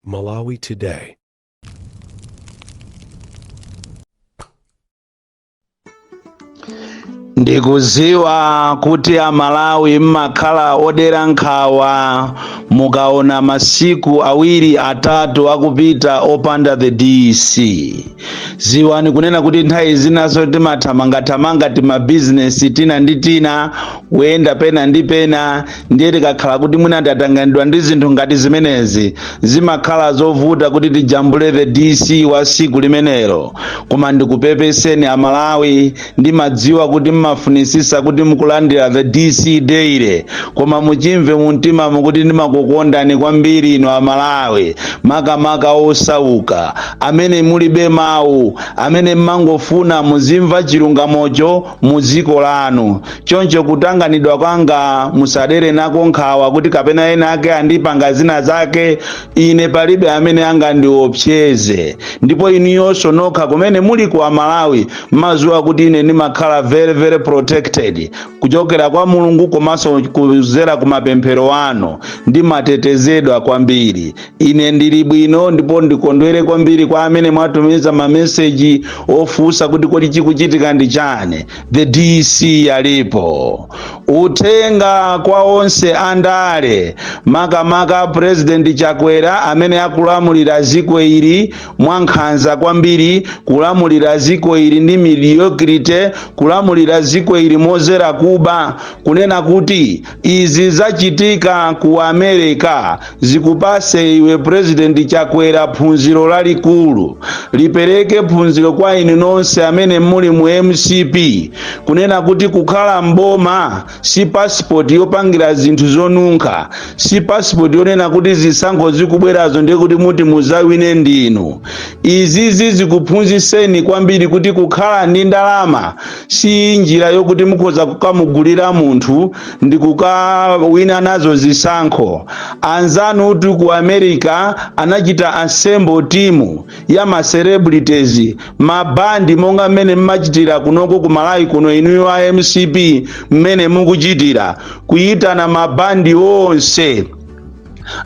Malawi Today. Ndikuziwa kuti Amalawi mmakhala odera nkhawa mukaona masiku awiri atatu akupita opanda the DC. Ziwani kunena kuti nthawi zinaso timathamangathamanga timabizinesi tina ndi tina kuyenda pena ndi pena ndiye tikakhala kuti mwina tatanganidwa ndi zinthu ngati zimenezi zimakhala zovuta kuti tijambule the DC wa siku limenelo koma ndikupepeseni Amalawi ndimadziwa kuti mmafunisisa kuti muzilandira the DC daily koma muchimve mumtimamo kuti ndimakukondani kwambiri inu Amalawi makamaka osauka amene mulibe mawu amene mmangofuna muzimva chilungamocho mudziko lanu choncho kutanganidwa kwanga musadere nako nkhawa kuti kapena ena ake andipanga zina zake ine palibe amene angandiopseze ndipo inuyonso nokha kumene muli ku Amalawi mmaziwa kuti ine ndimakhala very very protected kuchokera kwa Mulungu komanso kuzera ku mapemphero anu ndimatetezedwa kwambiri Ine ndili bwino ndipo ndikondwere kwambiri kwa amene mwatumiza mameseji ofunsa kuti kodi chikuchitika ndi chani. The DC alipo. Uthenga kwa onse andale makamaka President Chakwera amene akulamulira ziko ili mwankhanza kwambiri, kulamulira ziko ili ndi mediocrity, kulamulira ziko ili mozera kuba, kunena kuti Izi zachitika ku America zikupase iwe president Chakwera phunziro lalikulu. Lipereke phunziro kwa inu nonse amene muli mu MCP kunena kuti kukhala m'boma si passport yopangira zinthu zonunkha, si passport yonena kuti zisankho zikubwerazo ndiye kuti muti muzawine ndinu. Izizi zikuphunziseni kwambiri kuti kukhala ndi ndalama si njira yokuti mukhoza kukamugulira munthu ndi kukawina nazo zisankho anzanutu ku America anachita assemble team ya ma celebrities mabandi monga mmene mmachitira kunoko ku Malawi kuno inuyo a MCP mmene mukuchitira kuyitana mabandi onse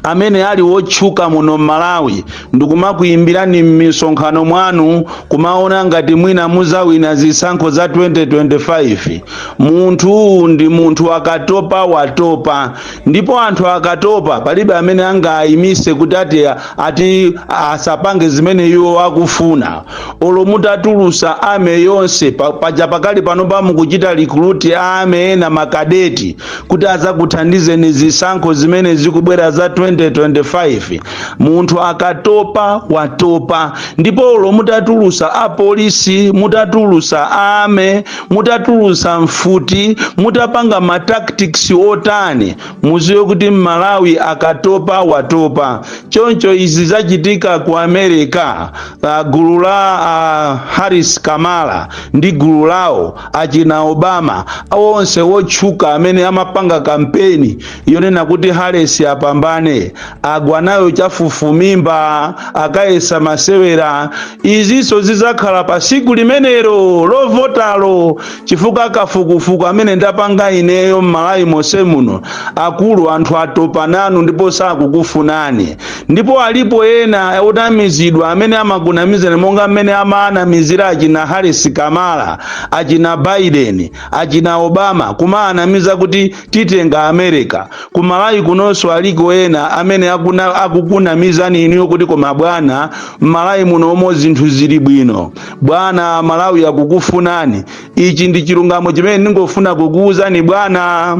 amene ali wotchuka muno m'Malawi ndikumakuyimbirani m'misonkhano mwanu kumaona ngati mwina muzawina zisankho za 2025 munthuyu ndi munthu akatopa watopa ndipo anthu akatopa palibe amene angawayimise kuti ati, ati asapange zimene iwo akufuna olo mutatulusa army yonse pa- paja pakali pano pa mukuchita recruit army ena makadeti kuti azakuthandizeni zisankho zimene zikubwera za 2025 munthu akatopa watopa ndipo olo mutatulusa apolisi mutatulusa ame mutatulusa mfuti mutapanga ma tactics otani muziwe kuti mmalawi akatopa watopa choncho izi zachitika ku america uh, gulu la uh, harris kamala ndi gulu lawo achina obama onse wotchuka amene amapanga kampeni yonena kuti harris apambane agwa nayo chafufumimba akayesa masewera izinso zizakhala pa siku limenelo lovotalo chifukwa kafukufuku amene ndapanga ineyo m'malawi monse muno akulu anthu atopa nanu ndipo sakukufunani ndipo alipo ena otamizidwa amene amakunamizani monga mmene amaanamizira achina harris kamala achina biden achina obama kumaanamiza kuti titenga america kumalawi kunonso aliko ena amene akuna, akukunamizani inuyo kuti koma bwana mmalawi munomo zinthu zili bwino bwana malawi akukufunani ichi ndi chilungamo chimene ndingofuna kukuwuzani bwana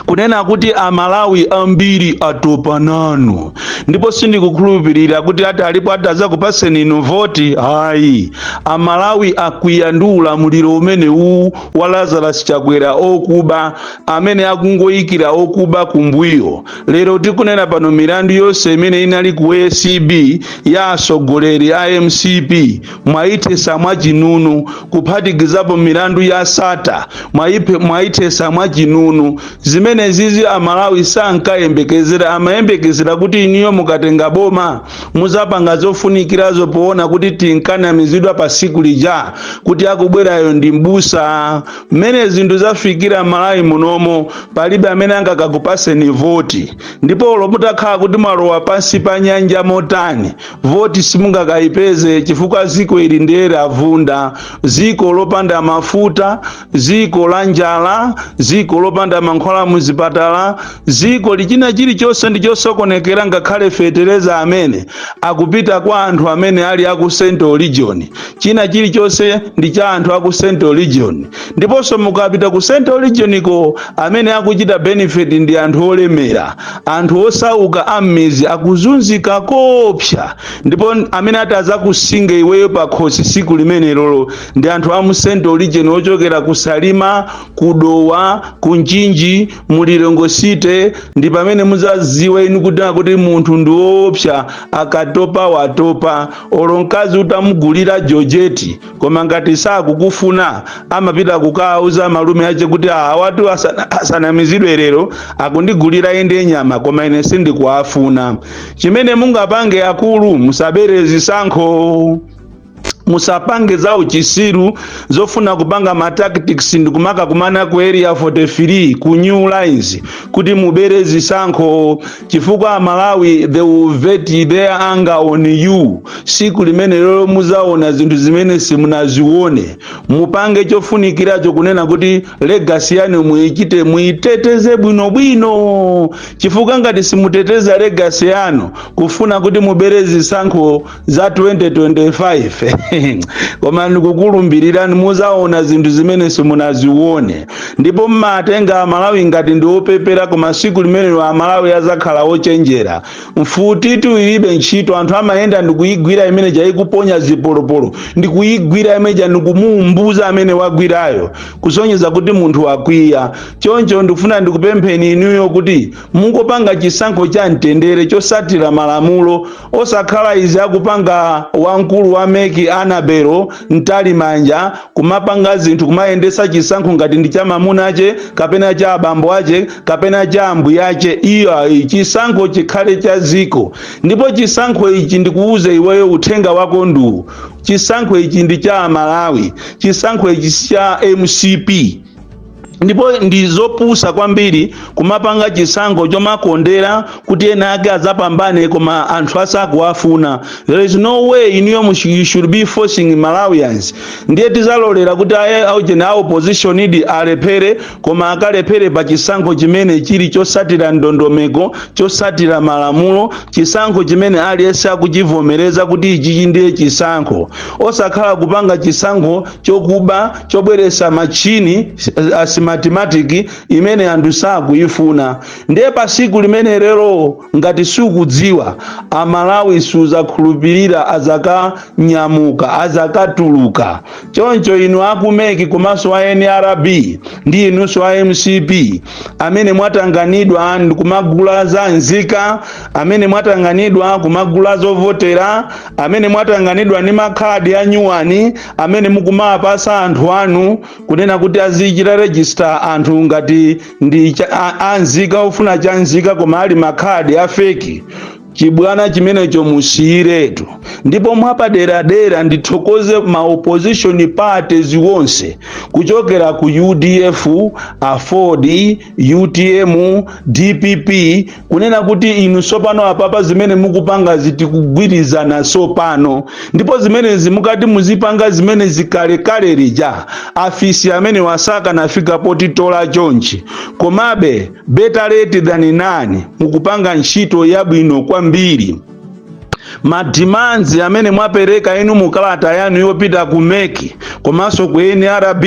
kunena kuti amalawi ambiri atopa nanu ndipo sindikukhulupirira kuti alipo atazakupaseni inu voti ayi amalawi akwiya ndi ulamuliro umene uwu wa lazarus chakwera okuba amene akungoyikira okuba kumbuyo lero tikunena pano milandu yonse imene inali ku acb ya asogoleri a mcp mwaithesa mwachinunu kuphatikizapo milandu ya sata mwaipe- mwaithesa mwachinunu zimenezizi amalawi sankayembekezera amayembekezera kuti inuyo mukatenga boma muzapanga zofunikirazo poona kuti tinkanamizidwa pa siku lija kuti akubwerayo ndi mbusa mmene zinthu zafikira mmalawi munomo palibe amene angakakupaseni voti ndipo olo mutakhala kuti mwalowa pansi pa nyanja motani voti simungakayipeze chifukwa ziko ili nde lavunda ziko lopanda mafuta ziko la njala ziko lopanda mankhwala muzipatala ziko lichina chilichonse ndi chosokonekera ngakhale fetereza amene akupita kwa anthu amene ali aku central region china chilichonse ndi cha anthu aku central region ndiponso mukapita ku central region ko amene akuchita benefit ndi anthu olemera anthu osauka am'mizi akuzunzika koopsa ndipo amene atazakusinga iweyo pakhosi siku limenelolo ndi anthu a mu central region ochokera ku salima ku dowa ku mchinji mu lilongwe city ndi pamene muzaziwa inu kuti akuti munthu ndi woopsa akatopa watopa olo mkazi utamugulira jojeti koma ngati sakukufuna amapita kukauza malume ache kuti awatu asana- asanamizidwe lero akundigulira ende nyama koma ine sindikuwafuna chimene mungapange akulu musabere zisankho musapange za uchisiru zofuna kupanga ma tactics ndikumaka kumana ku area 43 ku new lines kuti mubere zisankho chifukwa amalawi they will vent their anger on you siku limenelero muzaona zinthu zimene simunazione mupange chofunikiracho kunena kuti legasi yanu muichite muiteteze bwinobwino chifukwa ngati simuteteza legasi yanu kufuna kuti mubere zisankho za 2025 koma ndikukulumbirira muzaona zinthu zimene simunazione ndipo mmatenga amalawi ngati ndi opepera koma siku limenelo amalawi azakhala ochenjera mfutitu ilibe ntchito anthu amayenda ndikuyigwira mmene ija ikuponya zipolopolo ndikuyigwira imene ja ndikumuumbuza amene wagwirayo kusonyeza kuti munthu wakwiya choncho ndikufuna ndikupempheni inuyo kuti mungopanga chisankho cha mtendere chosatira malamulo osakhala izi akupanga wamkulu wa meki anabelo mtalimanja kumapanga zinthu kumayendesa chisankho ngati ndi cha mamuna ache kapena cha abambo ache kapena cha ambuya ache iyayi chisankho chikhale cha ziko ndipo chisankho ichi ndikuuze iweyo uthenga wako nduwu chisankho ichi ndi cha amalawi chisankho ichi si cha mcp ndipo ndi zopusa kwambiri kumapanga chisankho chomakondera kuti ena ake adzapambane koma anthu asakuwafuna there is no way inuyo mu- you should be forcing malawians ndiye tizalolera kuti eya aujeni a opposition idi alephere koma akalephere pa chisankho chimene chili chosatira ndondomeko chosatira malamulo chisankho chimene aliyense akuchivomereza kuti ichichi ndiye chisankho osakhala kupanga chisankho chokuba chobweresa machini a smartmatic imene anthu sakuyifuna ndiye pa siku limenelero ngati sukudziwa amalawi suzakhulupirira azakanyamuka azakatuluka choncho inu aku meki komanso a nrb ndi inunso a mcp amene mwatanganidwa ndi kumagula za nzika amene mwatanganidwa kumagula zovotera amene mwatanganidwa ndi makhadi a nyuwani amene mukumapasa anthu anu kunena kuti azichita register anthu ngati ndi cha- a- anzika ofuna cha nzika koma ali makhadi a fake chibwana chimenecho musiyiretu ndipo mwapaderadera ndithokoze ma opposition parties wonse kuchokera ku udf aford utm dpp kunena kuti inu sopano apapa zimene mukupangazi tikugwirizana sopano ndipo zimenezi mukadati muzipanga zimenezi kalekale lija afisi amene wasaka nafika potitola chonchi komabe better late than none mukupanga ntchito yabwino kwambiri madimanzi amene mwapereka inu mu kalata yanu yopita ku meki komanso ku nrb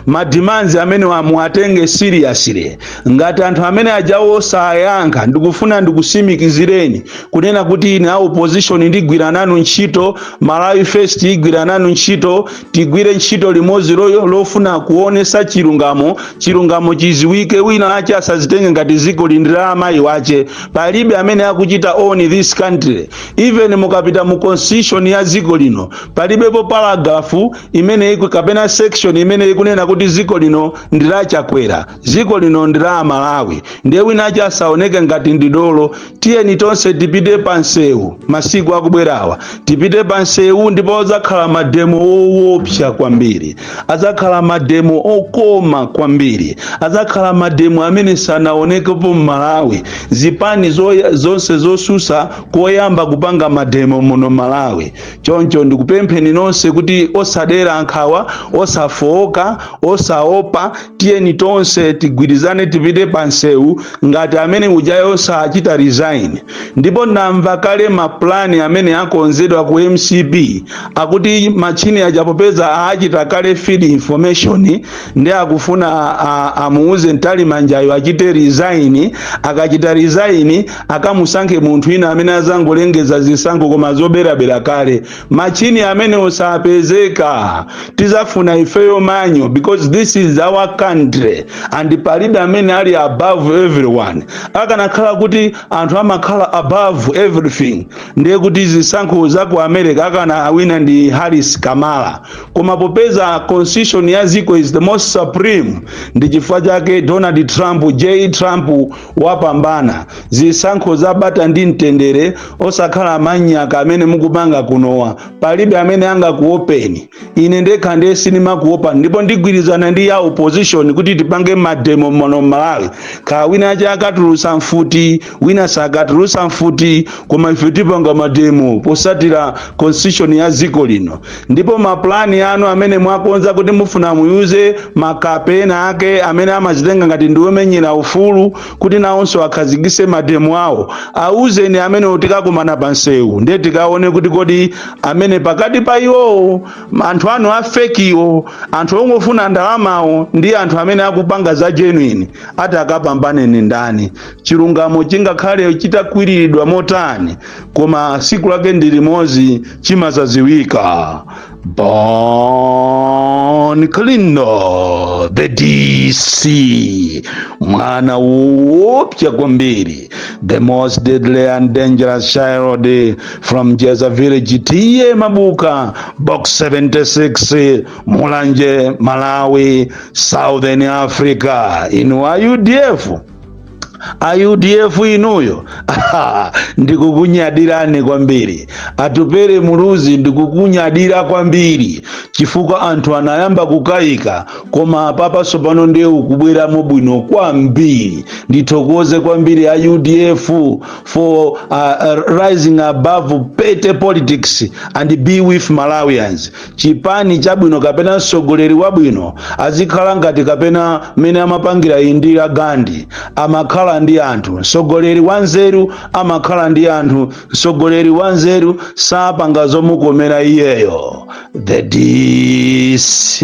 madimanzi amene muwatenge seriously ngati anthu amene ajawo sayankha ndikufuna ndikutsimikizireni kunena kuti ine a opposition ndigwira nanu ntchito malawi first igwira nanu ntchito tigwire ntchito limodzi lofuna kuonesa chilungamo chilungamo chiziwike wina ache asazitenge ngati ziko lino ndi la amayi wache palibe amene akuchita own this country even mukapita mu constitution ya ziko lino palibepo paragrafu imene ikunena kapena section imene ikunena kuti ziko lino ndi la chakwera dziko lino ndi la amalawi ndiye wina wache asaoneke ngati ndi dolo tiyeni tonse tipite pa msewu masiku akubwerawa tipite pa msewu ndipo adzakhala mademo owopsa kwambiri adzakhala mademo okoma kwambiri adzakhala mademo amene sanaonekepo m'malawi zipani zonse zotsutsa koyamba kupanga mademo muno malawi choncho ndikupempheni nonse kuti osadera nkhawa osafooka osaopa tiyeni tonse tigwirizane tipite pa nsewu ngati amene ujayo sachita resign ndipo ndamva kale mapulani amene akonzedwa ku mcp akuti machini aja popeza achita kale feed information ndi akufuna a- a- amuuze Mtalimanjayo achite resign akachita resign akamusankhe munthu wina amene azangolengeza zisankho koma zoberabera kale machini amenewo osapezeka tizafuna ifeyo manual because this is our country and palibe amene ali above everyone akanakhala kuti anthu amakhala above everything ndiye kuti zisankho za ku america akanawina ndi harris kamala koma popeza constitution ya ziko is the most supreme ndi chifukwa chake donald trump j trump wapambana zisankho za bata ndi mtendere osakhala manyaka amene mukupanga kunowa palibe amene angakuopeni ine ndekha ndiye sindimakuopani ndipo ndigwirizana ndi ya opposition kuti tipange mademo muno malawi kaya wina ache akatulusa mfuti wina sakatulusa mfuti koma ife tipanga mademo posatira constitution ya dziko lino ndipo mapulani anu amene mwakonza kuti mufuna muwauze makape ena ake amene amazitenga ngati ndi omenyera ufulu kuti nawonso akhazikise mademo awo awuzeni amene tikakumana pa nsewu ndiye tikaone kuti kodi amene pakati pa iwowo anthu anu afekiwo anthu ongofuna ndalamawo ndi anthu amene akupanga za genuine atakapambane ndi ndani chilungamo chingakhale chitakwiriridwa motani koma siku lake ndi limodzi chimazaziwika bon kalindo the dc mwana woopsya kwambiri the most deadly and dangerous child from jeza village t/a mabuka box 76 mulanje malawi southern africa inu a udf a udf inuyo ndikukunyadirani kwambiri atupere muluzi ndikukunyadira kwambiri chifukwa anthu anayamba kukayika koma apapa sopano ndiye ukubweramo bwino kwambiri ndithokoze kwambiri a udf for rising above petty politics and be with malawians chipani chabwino kapena mtsogoleri wabwino azikhala ngati kapena mmene amapangira indira gandhi amakhala ndi anthu mtsogoleri wanzeru amakhala ndi anthu mtsogoleri wanzeru sapanga zomukomera iyeyo the dc